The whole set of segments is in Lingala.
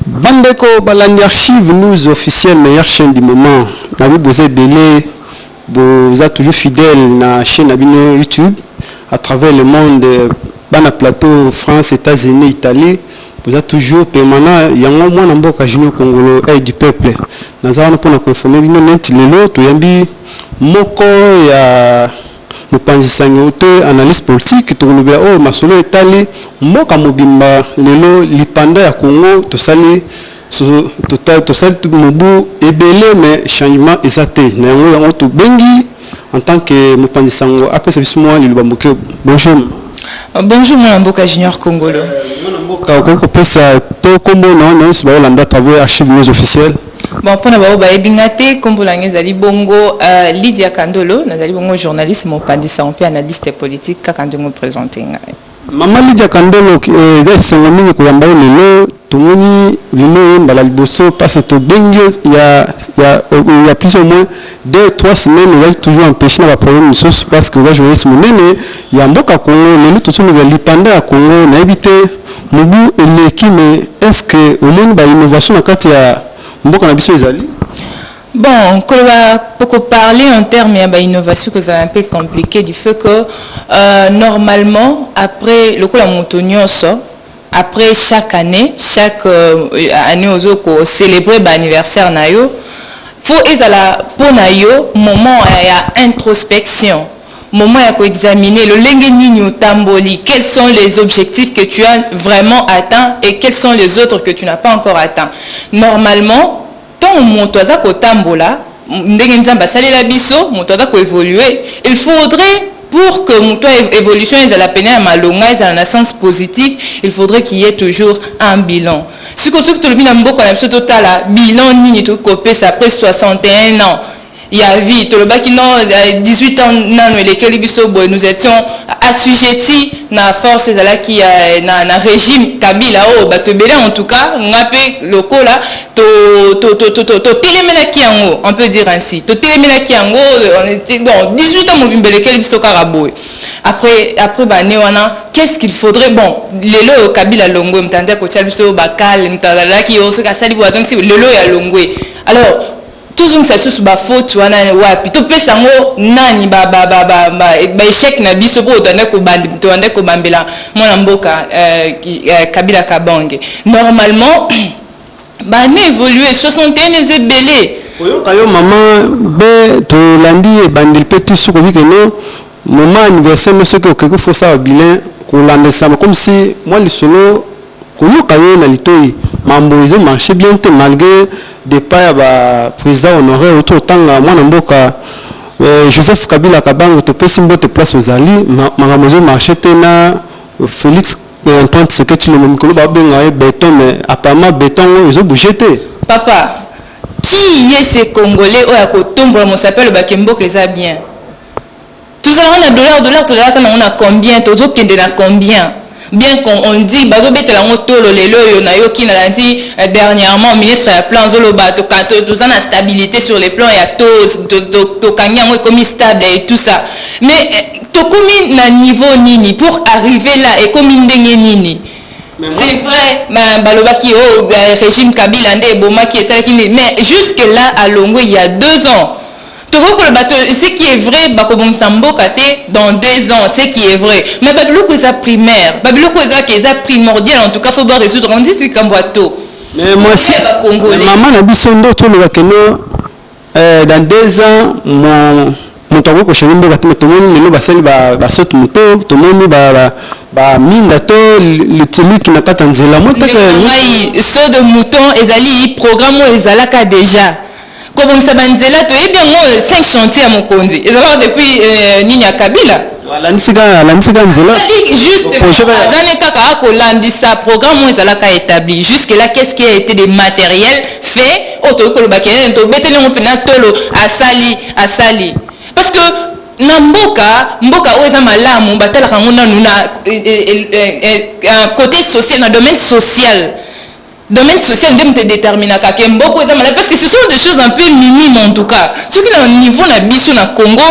Bandeko balandi archive news officiel meilleur chaine du moment na bi boza ebele boza toujours fidèle na chaine na bino YouTube à travers le monde bana plateau France Etats-Unis Italie boza toujours permanent yango mwana mboka Junior Kongolo aide du peuple naza wana mpona koinforme bino neti lelo toyambi moko ya Mopanzi sango to analyse politique tokolobela oyo masolo etali mboka mobimba lelo lipanda ya Congo tosali tota, tosali mobu ebele mais changement eza te na yango yango tobengi en tant que mopanzi sango apesa biso mwa liloba moke bonjour euh, bonjour mwana mboka junior kongolo euh, mwana mboka okoki kopesa to nkombo na wana nyonso baolanda travers archive news officielle Bon, mpo na baoyo bayebi nga te nkombo na ngai ezali bongo uh, lydia kandolo nazali bongo journaliste mopanzi sango mpe analyste politique kaka ndenge opresente ngai mama lydia kandolo eh, eza esengo mingi koyamba yo lelo tomoni lelo ye mbala liboso mpasi tobengi yo ya, ya, ya plus au moins deux trois semaines ozali toujours empêche na baproblème mosusu parce que oza journaliste monene ya mboka congo lelo tozoloba lipanda ya congo nayebi te Mubu eleki mais est ce que omoni ba innovation na kati ya mboka na biso ezali? Bon, koloba poko parler en termes ya ba innovation kozala un peu compliqué du fait que euh, normalement après lokola moto nyonso après chaque année chaque euh, année ozo ko célébrer ba anniversaire na yo faut ezala mpo na yo moment ya introspection Moment ya ko examiner lolenge nini otamboli, quels sont les objectifs que tu as vraiment atteint et quels sont les autres que tu n'as pas encore atteint. Normalement, tango moto aza kotambola, ndenge Nzambe asalela biso, moto aza ko evoluer, il faudrait pour que moto évolution ezala pena ya malonga ezala na sens positif il faudrait qu'il y ait toujours un bilan siko soki tolobi na mboka na biso totala bilan nini tokoki kopesa après 61 ans ya vie tolobaki non 18 ans nanu elekeli biso boye nous étions assujetti na force ezalaki ya na, na régime kabila oyo oh, bato ebele en tout cas nga mpe lokola totelemelaki yango on peut dire ainsi totelemelaki yango bon 18 ans mobimba elekeli biso kaka boye après après bane wana qu'est-ce qu'il faudrait bon lelo oyo kabila longwe moto anza kotia biso bakale moto azalaki yo soki asali boye azongisi lelo oyo alongwe alors Tozongisa lisusu ba fautes wana wapi? Topesa yango nani ba ba ba ba ba ba echec na biso po tobandaki koband tobandaki kobambela mwana mboka euh, Kabila Kabange normalement ba annee evolue 61 eza ebele. Oyoka yo maman be tolandi ebandeli pe ti suka obike no Moment ya anniversaire mais soki okeyi faut osala bilan kolanda lisama comme si mwa lisolo koyoka yo na litoyi mambo ezo marche bien te malgre depart ya ba president honore outi kotanga mwana mboka euh, Joseph Kabila Kabango topesi mbote place ozali makambo ezo marche te na Felix euh, Antoine Tshisekedi Tshilombo mikolo babenga ye beton mais apparemment beton oyo ezo bouger te papa qui est ce congolais oyo akotombola mosapi alobaki mboka eza bien Tozalaka na dollar dollar tolalaka nango na combien tozo kende na combien bien qu'on on dit bazo betela ngo tolo lelo oyo na yoki na landi euh, dernièrement ministre ya plan azo loba to kato toza na stabilité sur les plans ya taux to kangi yango ekomi stable et tout ça mais euh, tokomi na niveau nini pour arriver là ekomi ndenge nini c'est vrai ma balobaki oh euh, régime kabila nde ebomaki esalaki nini mais jusque là alongwe il y a deux ans Tokoki koloba te ce qui est vrai bakobongisa mboka te dans deux ans ce qui est vrai mais babiloko eza primaire babiloko eza ke eza primordial en tout cas faut ba résoudre on dit likambo ya to mais mwasi mama na biso nde toloba keno euh, dans deux ans mon moto akoki koshange mboka te tomoni lelo basali basote moto tomoni baminda to lituluki na kati ya nzela motakai so de mouton ezali programme oyo ezalaka déjà Kobongisa ba nzela toyebi yango 5 chantier ya mokonzi ezalaka depuis euh, nini ya Kabila alandisi kaka alandisi kaka nzela azani kaka akolandisa programme oyo ezalaka établi jusque là qu'est ce qui a été de matériel fait oyo tokoki koloba ke eh, tobeteli yango mpena tolo asali asali parce que na mboka mboka oyo eza malamu batalaka yango nanu na eh, eh, cote social na domaine social Domaine social nde moto edeterminaka ke mboko eza malamu parce que ce sont des choses un peu minimes en tout cas soki na niveau na biso na congo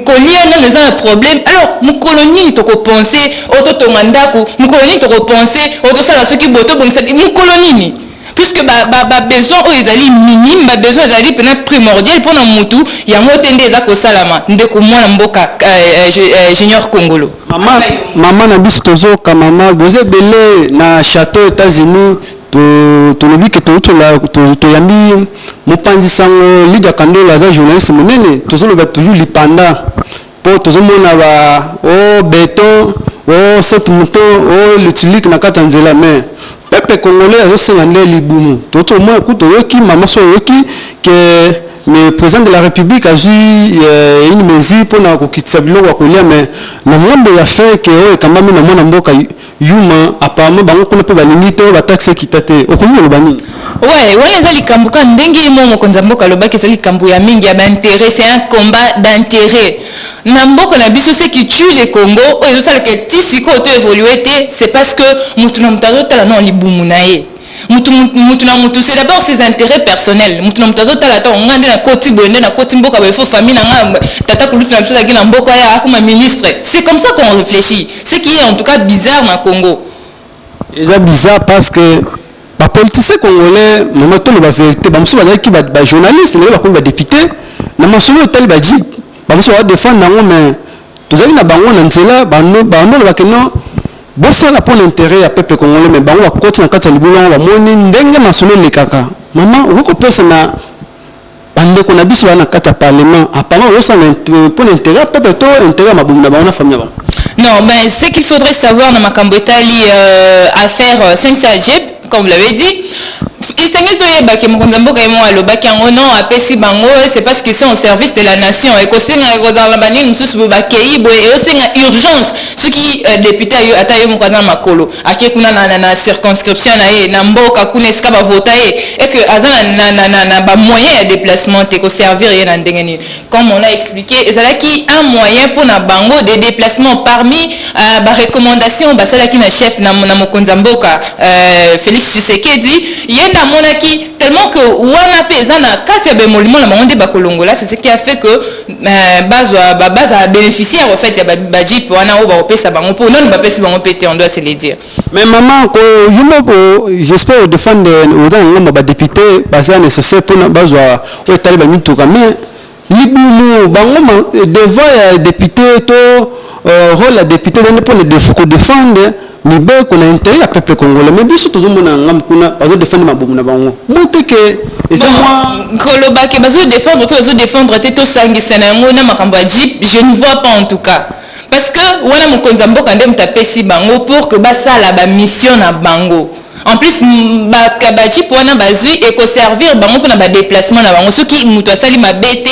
kolia nano eza na problème alors mokolo nini tokopense oyo totonga ndako mokolo nini tokopense oyo tosala soki boye tobongisa mokolo nini puisque babesoin oyo ezali minime babesoin ezali mpena primordial mpo na motu yango te nde eza kosalama ndeko mwana mboka euh, euh, euh, junior congolo Mama, mama na biso tozoka mama boza ebele na chateau Etats-Unis tolobi ke toyambi mopanzi sango Lydia Kandola aza journaliste monene tozoloba toujours lipanda mpo tozomona ba o oh, beton o oh, saute mouton o oh, lutulike na kati ya nzela mais Peuple congolais azosenga nde libumu. Tozo mona kutu toyoki mama so oyoki que le president de la republique azwi euh, une mesure pona kokitisa biloko ya kolia mais na ngambo ya fin que oyo ekambami na mwana mboka yuma apparemment bango kuna mpe balingi te oyo bataxe ekita te okoki koloba nini Ouais, wana eza likambo ka ndenge mo mokonzi ya mboka alobaki eza likambo ya mingi ya bainteret c'est un combat d'interet Na mboka na biso ce qui tue le Congo oyo ezo sala ke ti sikoyo to evoluer te c'est parce que mutu na mutu azo tala nao libumu na ye. Mutu mutu na mutu c'est d'abord ses interets personnels. Mutu na mutu azo tala atako ngai nde na koti boye nde na koti mboka boye faut famille na ngai tata kulutu na biso azalaki na mboka ya akoma ministre. C'est comme ça qu'on reflechit ce qui est en tout cas bizarre na Congo. Eza bizarre parce que ba politiciens congolais mama tolo ba verite ba musu bazalaki ba, ba journaliste lelo bakomi ba député na masolo etali ba jeep ba musu ba défendre nango mais tozali na bango na nzela bando bando ba keno bosala pour l'intérêt ya peuple congolais mais bango bakoti na kati ya libulu yango bamoni ndenge masolo elekaka mama okoki kopesa na Ba ndeko na biso ba na kati ya parlement apparemment bazo sala pona interet ya peuple to interet ya mabumu na bango na famille na bango. Non, ben ce qu'il faudrait savoir na makambo etali euh, affaire euh, Sensa Adjeb, comme vous l'avez dit, esengeli toyeba ke mokonzi ya mboka ye moko alobaki yango non apesi bango c'est parce qu'ils sont au service de la nation ekosenga ekozala na banini mosusu boye bakei boye eosenga urgence soki euh, depute ayo ata yo moko aza na makolo Ake kuna na, na, na circonscription na ye, na mboka kuna esika ba vota ye, et que aza na, na, na, na, na ba moyens ya deplacement te, ko servir ye na ndenge nini? Comme on a explique, ezalaki un moyen mpo na bango de deplacement parmi uh, ba recommandations basalaki na chef na, na mokonzi ya mboka uh, Felix Tshisekedi, ye nde amonaki tellement que wana mpe eza na kati ya bemolimo na bango nde bakolongola, c'est ce qui a fait que Euh, bazwa bazala bénéficiaire au fait ya bajipe wana oyo bakopesa bango mpo nani bapesi bango mpe te on doit se le dire mais maman ko yo moko j'espère odefendre oza na ngambo badepute baza nécessaire mpona bazwa oyo etali bamituka mais libumu bango devant ya député to euh, rôle ya député ezali mpo na kodefendre Mibeko na interet ya peuple congolais mais biso tozo mona ngambu kuna bazo defendre mabumu na bango mote ke eza mwa koloba ke bazo defendre to bazo defendre te to sangisa na yango na makambo ya jeep je ne vois pas en tout cas parce que wana mokonzi ya mboka nde moto apesi bango pour que basala ba mission na bango En plus ba ba jeep wana bazui et ko servir bango pona ba deplacement na bango soki mutu asali mabe te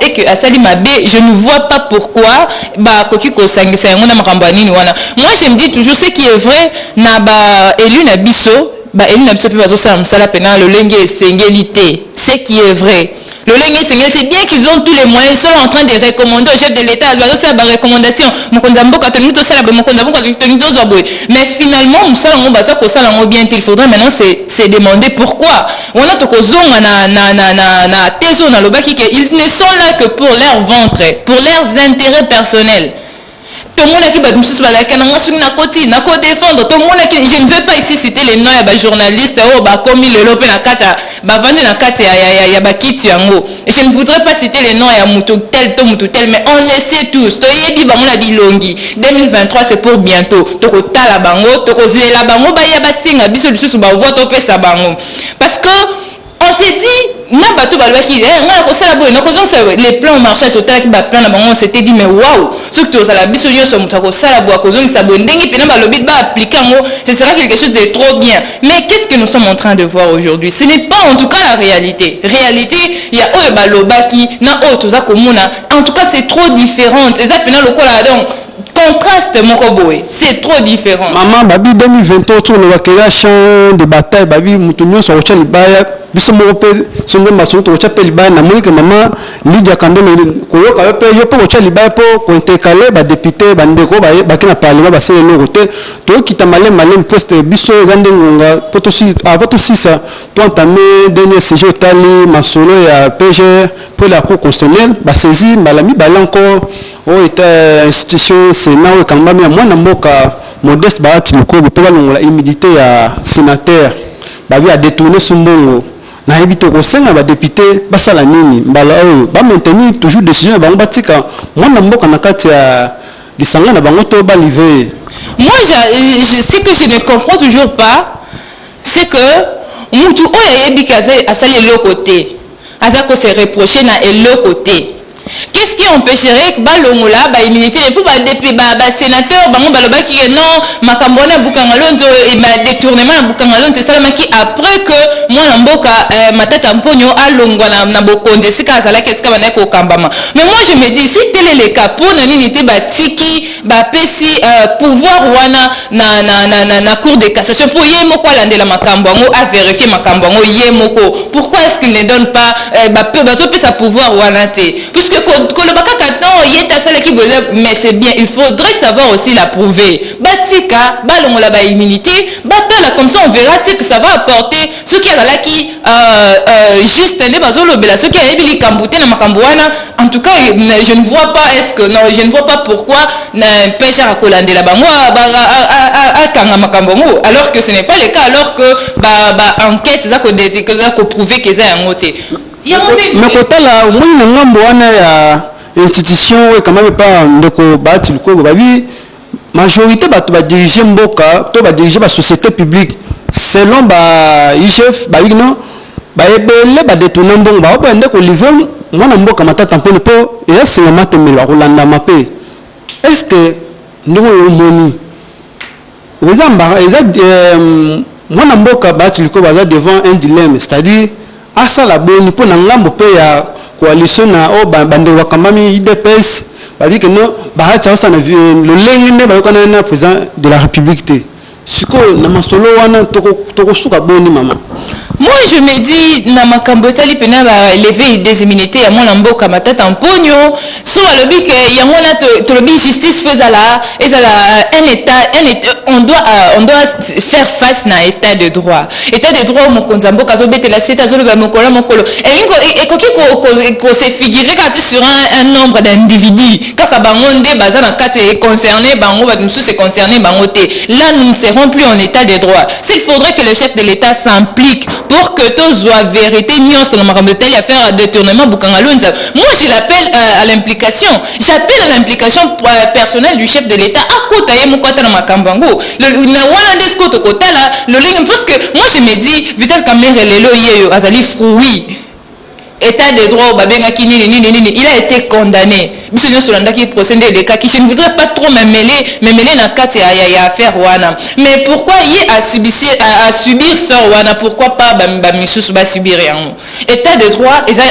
et que asali mabe je ne vois pas pourquoi ba koki ko sangisa yango na makambo ya nini wana moi je me dis toujours ce qui est vrai na ba élu na biso ba élu na biso pe bazo sala musala pena lolenge esengeli te ce qui est vrai lolenge esengeli te bien qu'ils ont tous les moyens ils sont en train de recommander au chef de l'état bazosala ba recommandation mokonzi ya mboka tolingi tosala boye mokonzi ya mboka tolingi tozwa boye mais finalement mosala yango baza kosala yango bien te il faudrait maintenant se, se demander pourquoi wana tokozonga na, na, na, na, na thèse oyo nalobaki ke ils ne sont là que pour leur ventre pour leurs intérêts personnels tomonaki bato mosusu balaka na nga soki nakoti nako defendre tomonaki je ne veux pas ici citer les noms ya bajournaliste oyo bakomi lelo mpe na kati ya bavandi na kati ya, ya, ya, ya bakiti yango je ne voudrais pas citer les noms ya moto tel to moto tel mais on le sait tous toyebi bango na bilongi 2023 c'est pour bientôt tokotala bango tokozela bango baya basenga biso lisusu bavoi topesa bango parce que On se dit na bato balobaki eh, ngai nakosala boye nakozongisa boye les plans marchand totalaki baplan na bango on s'était dit mais waouh soki tozala biso nyonso moto akosala boye akozongisa boye ndenge mpena balobi baaplike yango ce sera quelque chose de trop bien mais qu'est ce que nous sommes en train de voir aujourd'hui ce n'est pas en tout cas la réalité réalité ya oyo balobaki na oyo toza komona en tout cas c'est trop différente eza mpena lokola donc contraste moko boye c'est trop différent maman babi 2023 oyo tolobaka ya champ de bataille babi moto nyonso akotya libaya biso moko mpe so nde masolo tokotya mpe libaya namoni ke mama lidia kandolo koyoka yo mpe yo mpe kotya libaya mpo kointercale badepute bandeko baki na parlement basala eloko te tokita maleme maleme mpo sete biso eza nde ngonga mpo avant tosisa toentame dernier sujet otali masolo ya pgr mpo la cour constitutionnelle basaisie mbala mibale encore Oyo ete institution senat oyo ekambami ya mwana mboka Modeste Bahati Lukobi mpe balongola humidite ya senateur babi a detourner su mbongo nayebi te okosenga ba depute basala nini mbala oyo ba maintenir toujours decision na bango batika mwana mboka na kati ya lisanga na bango to ba live ye Moi, j'a- je- je- ce que je ne comprends toujours pas, c'est que mutu oyo ayebi ke aza- asali eloko te Aza ko se reprocher na eloko te. Qu'est-ce qui empecherait que balongola ba immunité et puis ba depuis ba, ba sénateur bango balobaki que non makambo wana Bukangalonzo et ba détournement na Bukangalonzo esalamaki après que mwana mboka euh, Matata Mponyo alongwa na, na bokonzi esika azalaki esika bana kokambama. Mais moi je me dis si tel est le cas pona nini te batiki ba pesi uh, pouvoir wana na, na, na, na, na cour de cassation pour ye moko alandela makambo yango a vérifier makambo yango ye moko pourquoi est-ce qu'il ne donne pas uh, ba peu bazo pesa pouvoir wana te puisque koloba kaka temps ye te asalaki boye mais c'est bien il faudrait savoir aussi la prouver batika balongola ba immunité batala comme ça on verra ce que ça va apporter soki azalaki euh, euh, juste nde bazolobela soki ayebi likambo te na makambo wana en tout cas je ne vois pas est ce que non je ne vois pas pourquoi na mpesha akolandela bango akanga makambo yango alors que ce n'est pas le cas alors que ba, ba enquête eza koprouve ke eza yango te na kotala omoni na ngambo wana ya institution oyo ekamami epa ndeko baati lukongo babi majorite bato ba dirige mboka to ba dirige ba société publique selon ba igf ba igno ba ebele ba détourna mbongo ba oboya nde ko livre mwana mboka matata mponi mpo eya singa matembelo akolandama mpe est ce que ndenge oyo omoni eza mbara eza euh, mwana mboka baati likoba aza devant un dilemme c'est à dire Asala boni mpo na ngambo mpe ya coalition na oyo bandeko bakambami udps babi ke no Bahati aosana lolenge nde bayokanani na president de la république te sikoyo na masolo wana tokosuka toko boni mama moi je me dis na makambo etali mpena baleve des immunité ya mwana mboka matata mponio Soki balobi que yango wana tolobi justice faut ezala ezala un état un état on doit euh, on doit faire face na état de droit état de droit mokonzi ya mboka azobetela sete azoloba mokolo na mokolo elingi e, ekoki ko se figurer kaka te sur un, un nombre d'individus kaka bango nde baza na kati e concerné bango bato mosusu e concerné bango te là nous ne serons plus en état de droit s'il faudrait que le chef de l'état s'implique pour que tozwa verite nyonso na makambo etali affaire ya détournement bukanga lonza moi je l'appelle euh, à l'implication j'appelle à l'implication euh, personnelle du chef de l'état akota ye moko ata na makambo yango wana nde sikoyo tokotala lolenge parce que moi je me dis vital kamere lelo yeyo azali fruit Etat de droit oyo babengaki nini nini nini, il a ete condamne, biso nionso tolandaki procès nde elekaki, je ne voudrais pas trop me meler me meler na kati ya ya affaire wana, mais pourquoi ye a subisir a subir sort wana pourquoi pas ba ba misusu ba subir yango? Etat de droit eza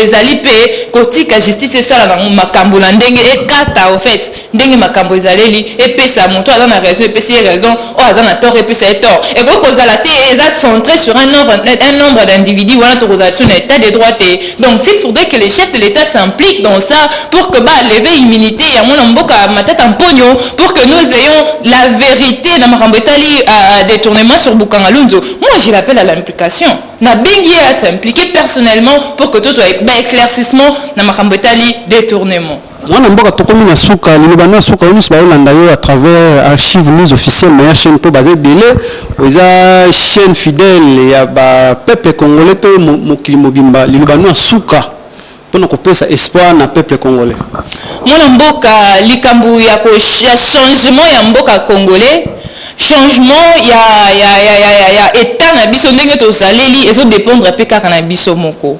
ezali mpe kotika justice esala na yango makambu na ndenge ekata au faite Ndenge makambo ezaleli epesa moto oyo aza na raison epesi ye raison, oyo aza na tort epesa ye tort. Ekoki kozala te eza centre sur un nombre, un nombre d'individus, wana tokozala sur na etat de droit te. Donc s'il faudrait que le chef de l'etat s'implique dans ça pour que ba lever immunite ya mwana mboka Matata Mponyo pour que nous ayons la verite na makambo etali detournement sur Bukangalunzu. Moi je l'appelle à l'implication. Nabengi ye a s'impliquer personnellement pour que tozwa ba eclaircissements na makambo etali detournement. Mwana mboka tokomi na suka liloba na suka yo nyonso bayolanda yo à travers archive news officielle na ya chaîne mpo baza ebele eza chaîne fidèle ya ba peuple congolais mpe mokili mobimba liloba na suka mpo na kopesa espoir na peuple congolais mwana mboka likambo ya, ya changement ya mboka congolais changement ya, ya, ya, ya, ya, ya etat na biso ndenge tozaleli ezodépendre mpe kaka na biso moko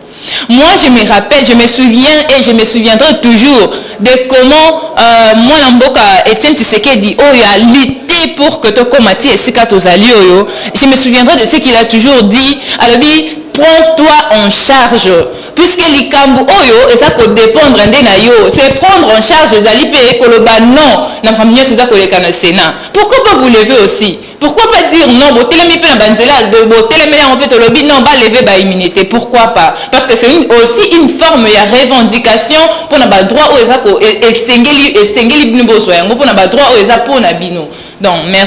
Moi je me rappelle, je me souviens et je me souviendrai toujours de comment euh, mwana mboka Etienne Tshisekedi oyo a lutté pour que tokoma ti esika tozali oyo. Je me souviendrai de ce qu'il a toujours dit, alobi prends-toi en charge puisque likambo oyo eza kodépendre nde na yo se prendre en charge ezali mpe koloba non na makambo nyonso eza koleka na sénat pourquoi pas vous levez aussi Pourquoi pas dire non botelemi pe na ba nzela botelemeli yango pe tolobi non ba lever ba immunite pourquoi pas parce que c'est aussi une forme ya revendication pona ba droit oyo eza ko esengeli esengeli bino bozwa yango pona ba droit oyo eza pona bino donc merci